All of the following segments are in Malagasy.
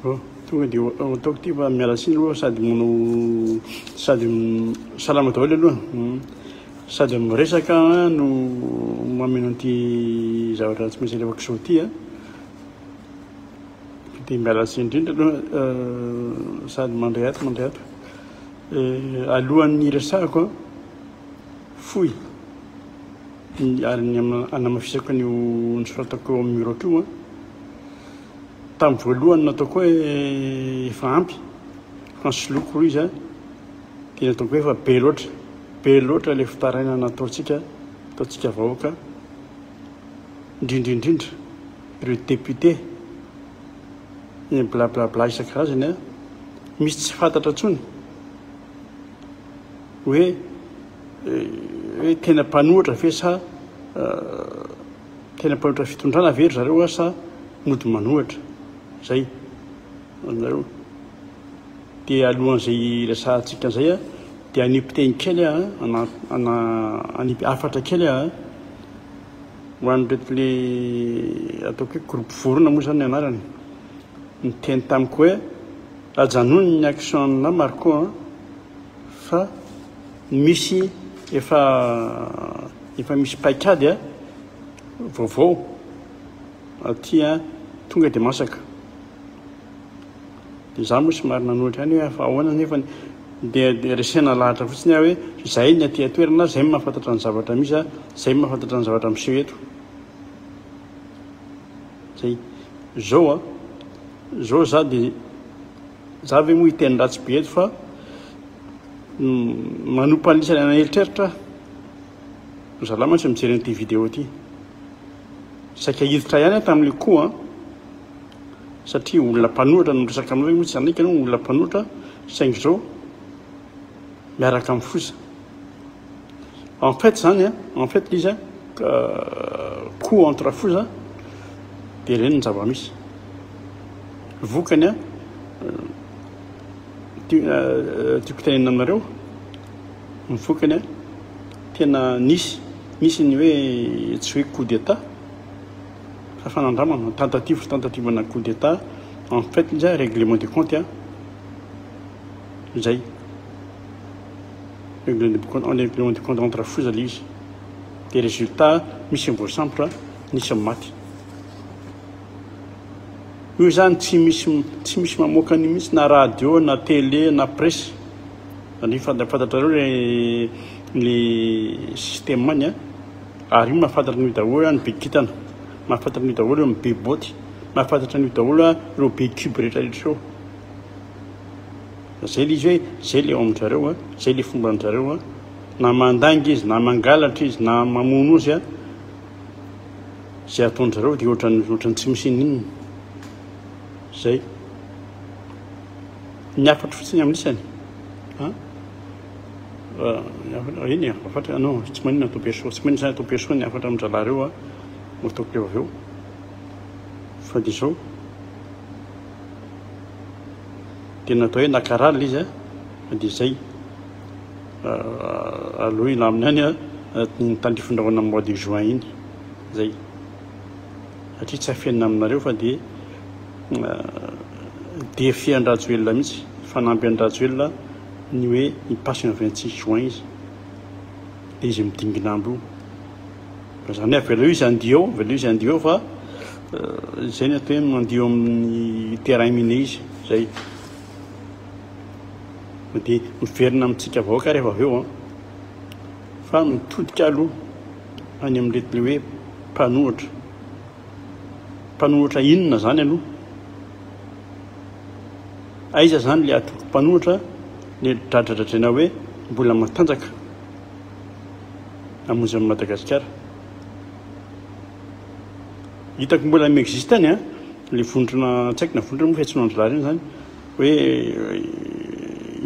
Tonga dia ataoko ity fa miala tsiny aloha sady mono sady salama daholo aloha hmm. sady miresaka no mameno an'ity zavatra tsy maintsy alefako soa ity a dia miala tsiny indrindra aloha euh, sady mandray ato mandray ato euh, alohan'ny resahako a fohy ary ny anamafisako an'io nisoratako eo amin'ny murako io a Tamin'ny voalohany nataoko hoe efa ampy fa nisoloky hoy izy a, dia nataoko hoe efa be loatra, be loatra ilay fitarainana ataontsika, ataontsika vahoaka, indrindra indrindra ireo député ny blablabla isan-karazany a, misy tsy fantatra intsony hoe hoe tena mpanohitra ve sa Tena mpanotra fitondrana ve ry zareo ary sa mody manohatra? Zay ho anareo. Dia alohan'izay hiresahantsika an'izay a, dia hanipy teny kely a, ana, ana, hanipy hafatra kely a, ho an'ireto le ataoko hoe groupe vorona moa zany ny anarany. Niteny tamiko hoe ajanony ny action na Marco a, fa misy efa Efa misy paikady a, vaovao aty a, tonga dia masaka. Dia izaho moa somary nanoatra ihany hoe ahoana nefa dia dia resena lahatra fotsiny aho hoe izay ny aty an-toerana, izay no mahafantatra ny zavatra misy a, izay no mahafantatra ny zavatra miseho eto. Zay. Zao a, zao za dia za ve moa hiteny ratsy be eto fa manompa an'isany an'eritreritra aho. Zalahy mantsy mijery an'ity vidéo ity. Saika hiditra ihany aho tamin'io koa an. Satria olona mpanohatra no miresaka aminao hoe tsy hanaiky ianao olona mpanohatra saingy izao miaraka amin'ny foza. En fait zany an, en fait izy an, euh, coup entre foza dia ireny ny zava-misy. Vokany an, euh, euh, tiako tenenina aminareo Ny vokany a, tena nisy, nisy ny hoe tsy hoe coup d'Etat fa fanandramana, tentative, tentative ana coup d'Etat, en fait izy a règlement de compte a, izay, règlement de compte entre foza le izy, dia résultat misy ny voasambotra, nisy ny maty. Io izany tsy misy, tsy misy mamoaka an'io mihitsy na radio na télé na presse. Ny fantatrareo le ny système any a, ary io mahafantatra an'io daholo a ny be kintana, mahafantatra an'io daholo ny be botte, mahafantatra an'io daholo a ireo be cube rehetra rehetra ireo. Zay le izy hoe zay le ao amin-dRareo a, zay le fomba an-dRareo a, na mandainga izy, na mangalatra izy, na mamono izy a, zay ataon-dRareo de ohatran'ny ohatran'ny tsy misy inona inona. Zay. Ny hafatro fotsiny amin'isany an ah eny e hafatra non tsy maninona atao perso tsy maninona izany atao perso ny hafatra amin-drahalahy ireo a mba ataoko eo avy eo fa dia izao dia natao hoe nakarala izy a fa dia izay aloha ilamina any a ny tandrifin-drahona mois de juin iny izay Satria tsy afenina aminareo fa dia defian-dRajoelina mihitsy, fanamby an-dRajoelina ny hoe mi-passe ny vingt six juin izy, dia izy midingin'andro io. Fa izany hoe avelao izy handio eo, avelao izy handio eo fa izay ny atao hoe mandio amin'ny terrain miné izy, izay. Dia miverina amintsika vahoaka rehefa avy eo an. Fa mitodika aloha. any amin'ireto le hoe mpanohatra. Mpanohatra inona zany aloha? Aiza zany le atoko mpanohatra le dradradradraina hoe mbola matanjaka amonjany Madagasikara. Hitako mbola mi-existe any a, le vondrona tsy haiko na vondrona moa fiantsoana andry lahy reny zany hoe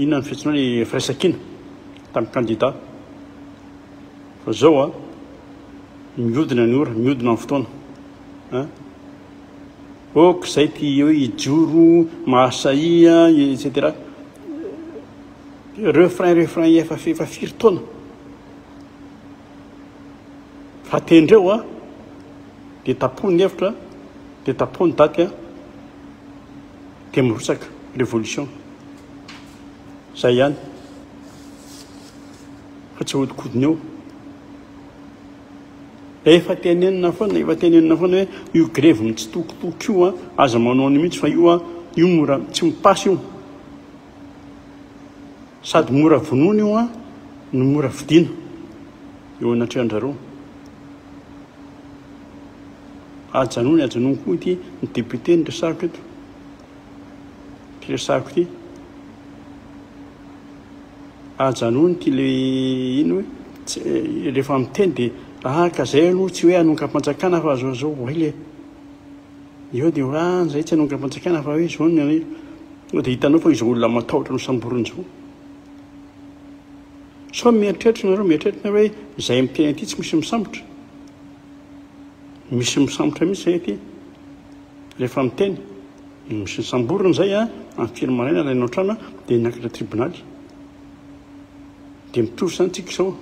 inona ny fiantsoana le firaisankina tamin'ny kandida. Fa zao an, miodina ny ora, miodina ny fotoana an, ok zay ity hoe hijoro, mahasahia etc. Refrain refrain efa efa firy taona fa tendreo an, dia tapoha ny hevitra an, dia tapoha ny daty an, dia mirotsaka revolution, zay ihany. Fa tsy ahodikodiny eo. Efa tenenina foana, efa tenenina foana hoe io grevy mitsitokotoko io a, aza manao an'io mihitsy fa io a, io mora tsy mipasy io. Sady mora vonoina io a, no mora vidiana eo anatrehan-drareo. Ajanony, ajanony koa ity ny député ny resaritra eto. Ity resahako ity. Ajanony ity le ino hoe rehefa miteny dia araka izay aloha tsy hoe hanongam-panjakana fa zao zao voay le. Eo dia hoe ah izay tsy hanongam-panjakana fa hoe izao ny anay. Dia hitanao fa izao olona matahotra ny samborina izao. Sao mieritreritra nareo mieritreritra nareo hoe izay miteny ity tsy misy misambotra. Misy misambotra mihitsy izay ity. Rehefa miteny i Michel Samborina izay amin'ny firy maraina ilay Notrana dia niakatra tribonaly. Dia mitovy izany tsika izao.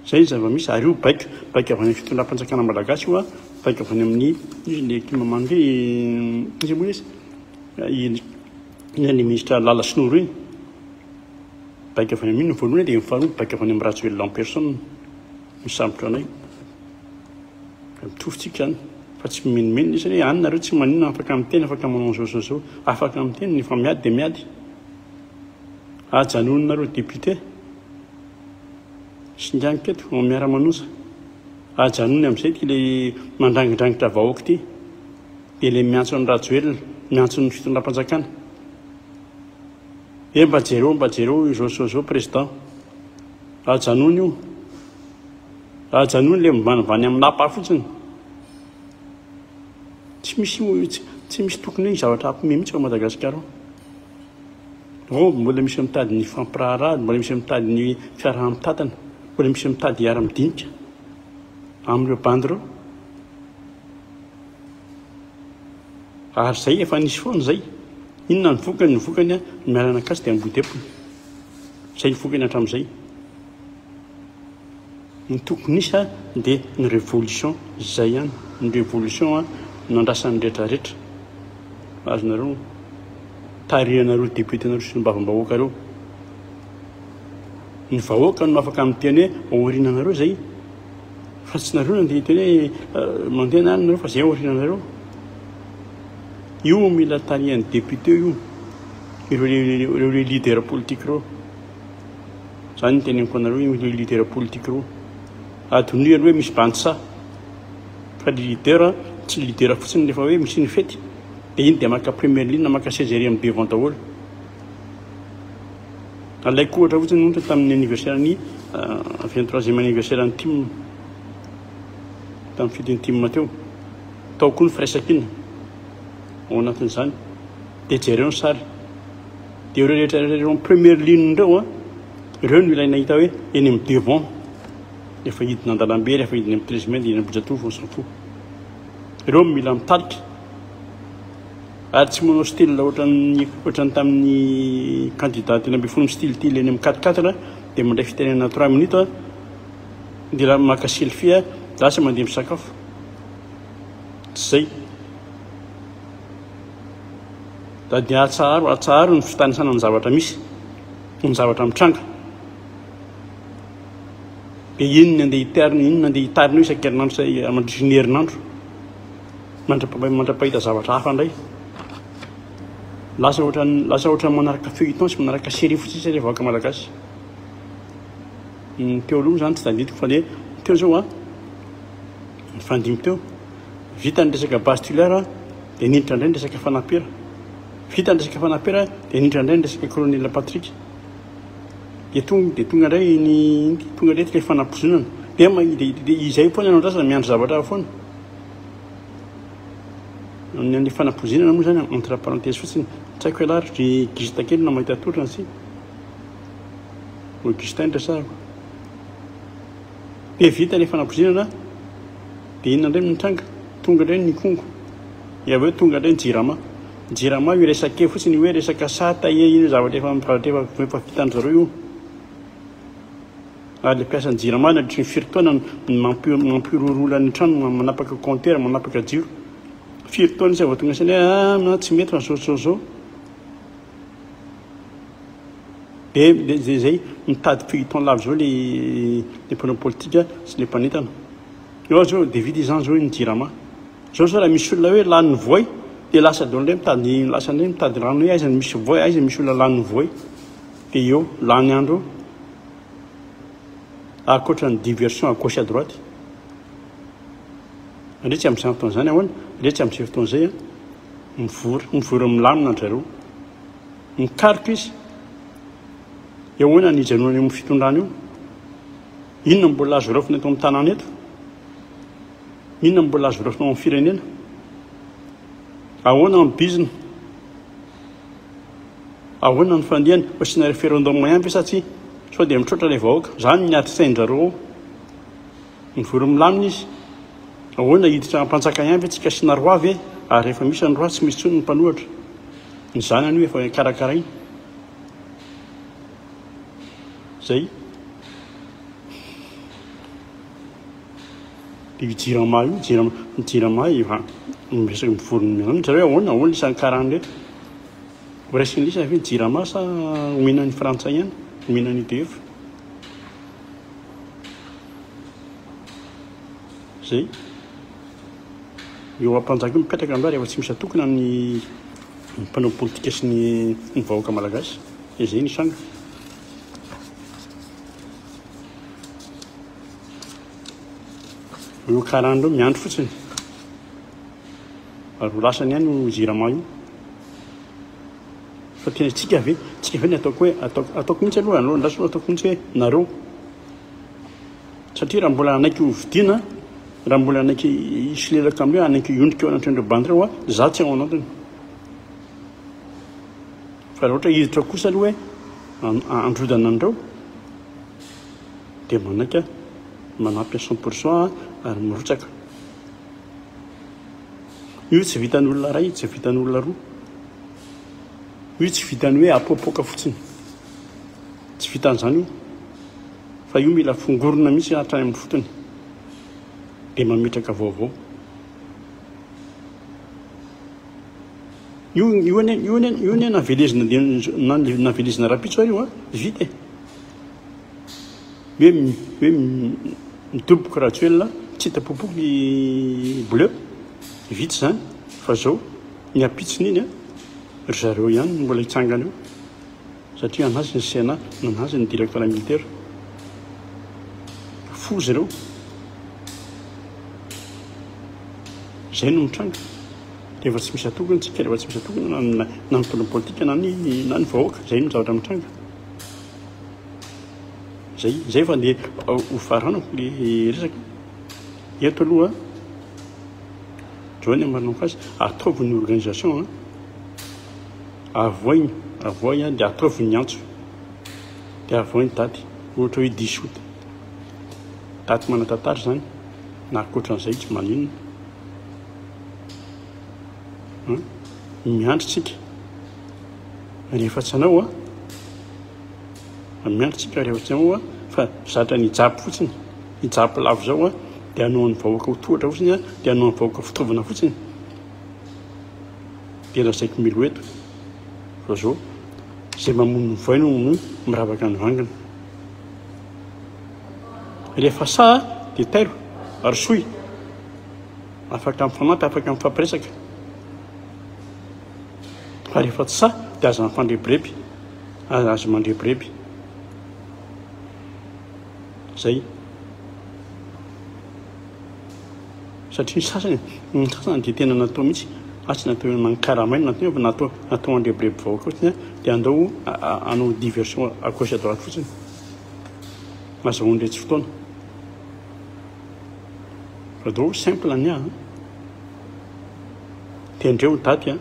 Izay ny zava-misy ary io baiko, baiko avy any amin'ny fitondram-panjakana malagasy io, baiko avy any amin'ny ilay tim mamy ve iza moa izy? Iny ilay ministra Lala sy Noro iny. Baiko avy any amin'iny ny voalohany dia ny faharoa baiko avy any amin'ny Rajoelina en personne misambotra anay. Atorotsika any fa tsy mimenomenona isany hoe any nareo tsy maninona afaka miteny afaka manao izao izao izao afaka miteny ny fa miady dia miady ajanony nareo député singaniko eto ao miara manosa ajanony amin'izay ty le mandrangidrangitra vahoaka ity dia le miantso ny rajoelina miantso ny fitondram-panjakana e mba jereo mba jereo izao izao izao président ajanony io Ajanony le mibanibany am lapa fotsiny. Tsy misy tsy misy tokony hoe zavatra ampime mihitsy ao Madagasikara ao. Ao mbola misy mitady ny fampiraharaha, mbola misy mitady ny fiaraha-mitatana, mbola misy mitady hiara-midinika amin'ireo bandy ireo. Ary zay efa nisy foana zay. Inona ny vokany? Ny vokany a, ny miaranakasy dia ambohidepona. Zay ny vokany hatramin'izay. Ny tokony hisy dia ny révolution zay ihany ny révolution nandrasan'ny rehetra rehetra azonareo tarihanareo député nareo sy ny bavambahoaka reo ny vahoaka no afaka miteny hoe aorinanareo zay fa tsy nareo nandeha hiteny hoe euh, mandeha na nareo fa zay aorinanareo io mila tarihan'ny député io ireo le leader politique reo Izany no teneniko anareo io leader politique roa. Adinoy aloha hoe misy bandy saha. Fa ny leader tsy ny leader fotsiny rehefa hoe misy ny fety dia iny dia maka première ligne maka seza ery amin'ny devant daholo. Alaiko ohatra fotsiny monta tamin'ny anniversaire ny 23e euh, anniversaire ny tim tamin'ny fidin'ny tim teo. Tao koa ny firaisankina ao anatin'izany. Dia jereo ny sary. Dia ireo rehetra ireo amin'ny première ligne ireo an, ireo no ilaina hita hoe eny amin'ny devant, rehefa hidina an-dalambe, rehefa hidina amin'ny treize mai, dia eny Ambohijatovo, on s'en fout. Ireo no mila mitarika. Ary tsy manao style ohatran'ny ohatran'ny tamin'ny candidat telo ambin'ny folo mistilitily eny amin'ny quatre quatre, dia mandray fitenenana trois minutes an, dia raha maka selfie an, lasa mandeha misakafo. Tsy izay. Da dia atsaharo, atsaharo ny fitanisana ny zavatra misy, ny zavatra mitranga. Dia iny ny andeha hitarina, iny ny andeha hitarina isan-kerinandro eh, mandritra ny herinandro. Mandra-pahita zavatra hafa indray. Lasa ohatra lasa ohatra manaraka feuilleton sy manaraka série fotsiny sisa vahoaka malagasy. Ny teo aloha zany tsy tadidiko fa le teo zao a. Ah. Ny fandimby teo. Vita ny resaka base tulaire dia niditra indray ny resaka fanapera. Vita ny resaka fanapera dia niditra indray ny resaka colonel Patrick. Dia tonga dia tonga indray ny tonga indray ilay fanapozonana. Dia dia izay foana no andrasana miandry zavatra hafa foana. Ny amin'ny fanapozinana moa izany entre parenthèse fotsiny. Tsy haiko ialahy ry Gista kely na mahita atolotra antsika. Ho Gista ny resahako. Be vita ny fanakozinana dia inona indray no nitranga? Tonga indray ny kongo. Dia avy eo tonga indray ny jirama. Ny jirama io resaka eo fotsiny hoe resaka sata e, iny zavatra efa efa efa vitan-dry zareo io. Ary ilay mpiasan'ny jirama nandritry ny firy taona no mampi- mampihorohoro olona any an-trano manapaka compteur, manapaka jiro. Firy taona izy vao tonga saina hoe ah na tsy mety fa zao zao zao. Dia izay mitady feuilleton lava izao ilay mpanao politika sy ilay mpanentana. Eo aho zao dia vita izany izao ny jirama. Izao izao raha misy olona hoe lany ny voay dia lasa daholo indray mitady lasa indray mitady rano hoe aiza ny misy voay, aiza misy olona lany ny voay. Dia eo, lany andro eo. Ankoatra ny diversion à gauche à droite. Ndrey tsy amin'izany fotoana izany ahoana? Ndrey tsy amin'izay fotoana izay an. Mivory, mivory milamina an-dry zareo. Mikaroka izy. Eo ahoana ny hijanonany amin'ny fitondrana io? Inona mbola azo raofina eto amin'ny tanàna eto? Inona mbola azo raofina ao amin'ny firenena? Ahoana amin'ny bizina? Ahoana ny fandihany? Asiana referendum ihany ve sa tsy? Sao dia mitroatra ilay vahoaka. Izany ny adin-tsain-dry zareo ao. Mivory milamina izy. Ahoana, hiditra hampanjaka ihany ve tsika sy Naroa ve ary rehefa misy an'i Roa tsy misy tsony ny mpanohatra? Ny zanany io efa karakaraina. Zay. Io jirama io, jirama, jirama efa miresaka mivory milamina. Zareo ahoana, ahoana isan'ny karany rehetra? Ho raisin'ilay izy ve ny jirama sa omenan'ny frantsay ihany, omenan'ny EDF? Zay. Eo ampanjaka io mipetraka angaha rehefa tsy misy atokona ny mpanao politika sy ny ny vahoaka malagasy. Dia zay ny sanga. Eo karana eo miandry fotsiny. Ary ho lasany ihany io jirama io. Fa tena tsika ve? Tsika ve ny ataoko hoe ataoko? Ataoko mihitsy aloha anao andraso aloha ataoko mihitsy hoe nareo. Satria raha mbola hanaiky ho vidiana, raha mbola hanaiky hisolelaka amin'ireo, hanaiky hiondrika eo anatr'ireo bandy ireo, za tsy ao anatiny. Fa raha ohatra hiditra ao kosa aloha hoe androdana an'ireo, dia manaiky manampy à cent pour cent ary mirotsaka. Io tsy vitan'ny olona iray, tsy vitan'ny olona roa. Io tsy vitan'ny hoe apoapoaka fotsiny. Tsy vitan'izany io. Fa io mila fongorona mihitsy hatrany amin'ny fotony. Dia mametraka vaovao. Io io ane io ane io ane navelezina navelezina rapitso ary io a vita e. hoe hoe midoboka Rajoelina tsy hita popoka ny bleu vita izany fa zao ny ampitsony iny a ry zareo ihany no mbola hitsangana eo satria anazy ny CNA nanazy ny directeur militaire foza ireo izay no mitranga rehefa tsy misy atokana tsika rehefa tsy misy atokana na ny tolom politika na ny na ny vahoaka izay no zavatra mitranga Zay, zay fa nde ho faranako le resaka. Eto aloha, John Marlon Fass, ataovy ny organisation an. Avoigny, avoy an, de ataovy ny antso. De avoy ny daty, ohatra hoe 10 août. Daty manatantara zany, na ankoatran'izay tsy maninona. Miandry tsika. ary efa tsy anao a ah. miandry tsika rehefa tsy anao a fa zatra ny hijapy fotsiny hijapy lavo zao a dia anao an'ny vahoaka ho tohatra fotsiny a dia anao an'ny vahoaka fitaovana fotsiny dia lazaiko milo eto fa zao zay mamono vaino no miravaka ny vangana rehefa sa dia tairo ary soy afaka mifanata afaka mifampiresaka Fa rehefa tsy sahy dia aza mifandrebireby, aza mandrebireby. Zay. Satria ny sasany, ny sasany dia tena natao mihitsy, na tsy natao hoe mankaramaina, na tena fa natao, natao handrebireby vahoaka fotsiny an, dia andao hanao diversion à gauche à droite fotsiny. Azahoany ilay tsy fotoana. Fa dao simple ny ahy. Tendreo ny daty an!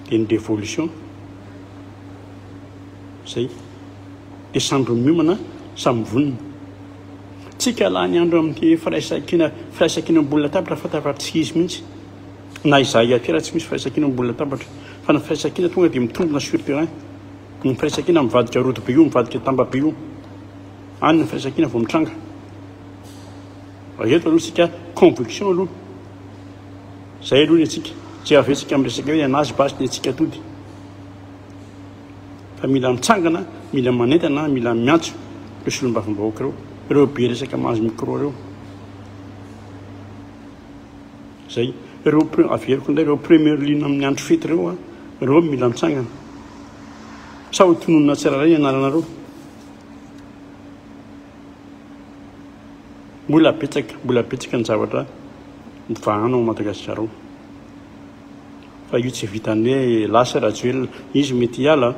Dia ny révolution zay. Dia sambry miomana, samy vonona. Tsy kalany andro amin'ity firaisankina, firaisankina ambony latabatra fa tafara tsy izy mihitsy. Na izaho ihany koa raha tsy misy firaisankina ambony latabatra. Fa ny firaisankina tonga dia mitombina sur terrain. Ny firaisankina mivadika rodobe io, mivadika tambabe io. Any ny firaisankina vao mitranga. Raha eto aloha isika conviction aloha. Zay aloha ny antsika. Tsy avetsika miresaka hoe anazy basy ny antsika atody. Fa mila mitsangana, mila manentana, mila miantso ireo solombavambahoaka ireo, ireo be resaka mahazo micro ireo. Zay. Ireo averiko indray ireo première ligne amin'ny andro fety ireo, ah, ireo mila mitsangana. Sa ho tononina tsirairay ny anaranareo. Mbola betsaka, mbola betsaka ny zavatra mivahana ao Madagasikara ao. Fa io tsy vitan'ny hoe lasa Rajoelina, izy mety hiala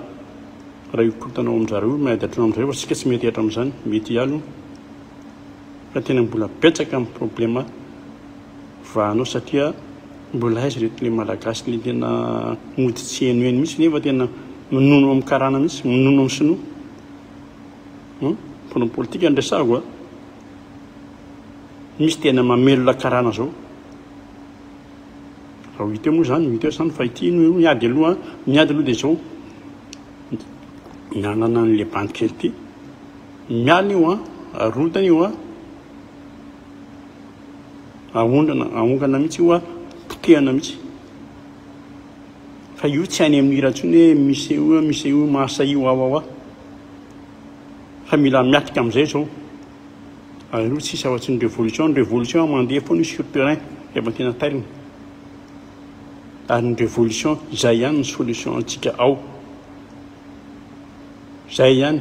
raha io korontana ao amin-dry zareo miady hatrany amin'izay fa isika tsy mety hihatra amin'izany, mety hiala io. Fa tena mbola betsaka amin'ny problema vahana ao satria mbola aiza ireto ilay Malagasy ilay tena mody tsy henoheno mihitsy nefa tena minono amin'ny karana mihitsy, minono amin'ny sinoa. Hum? Mponina politika no resahako a. Misy tena mamelona karana zao. Raha ho hita eo moa zany, hita eo zany fa ity no miady aloha, miady aloha dia zao. Nanana an'ilay bandy kely ity. Mialina io a, arotana io a. Ahondrana, ahongana mihitsy io a, potehana mihitsy. Fa io tsy any amin'ny hira intsony hoe misy io, misy io, masa io, awawa. fa mila miatrika amin'izay izao aleo tsisy afa-tsy ny révolution ny révolution mandeha foana sur terrain rehefa tena tairina ary ny révolution izay ihany ny solution antsika ao izay ihany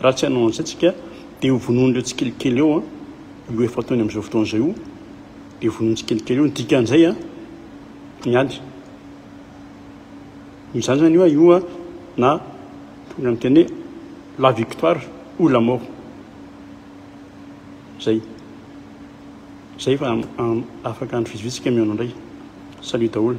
raha tsy hanao an'izay tsika dia ho vonoan'ireo tsikelikely eo io efa ataony amin'izao fotoana izay io dia vonoantsikelikely eo ny dikan'izay a miady Izany izany io io a na tokony miteny hoe la victoire ou la mort. Zay. Zay fa afaka andro vitsivitsy kemeo indray. Salut daholo.